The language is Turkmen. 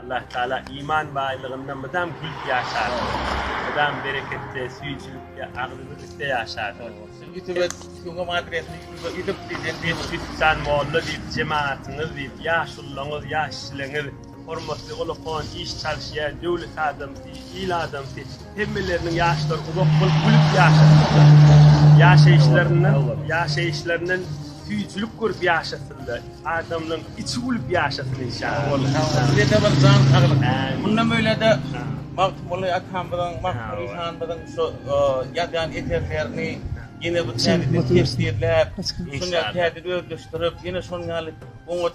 Allah Taala iman baýlygynda mydam gülüp ýaşadyň. Mydam bereketde, süýjülikde, agzybirlikde ýaşadyň. Siziň ýutube ýuňňam adresini ýutube ýuzup diýseň diýip. Sütdan molla diýip jemaatyňyz diýip ýaşullaňyz ýaş çileňiz hormatly ulakon iş çalşýa döwlet adamsy il adamsy. Hemmeleriniň ýaşlary uzak bolup gülüp ýaşasynlar. Ýaşaýyşlaryndan, ýaşaýyşlaryndan süýjülik görüp ýaşasynlar. Adamlaň içi gülüp ýaşasyn inşallah. Sizede bir jan saglyk. Mundan bölede Magtymguly atamyzyň, Magtymguly hanymyzyň şu ýazýan eserlerini ýene bir täzeden tefsirläp, şuny täzeden özleşdirip, ýene şonuň ýaly oňat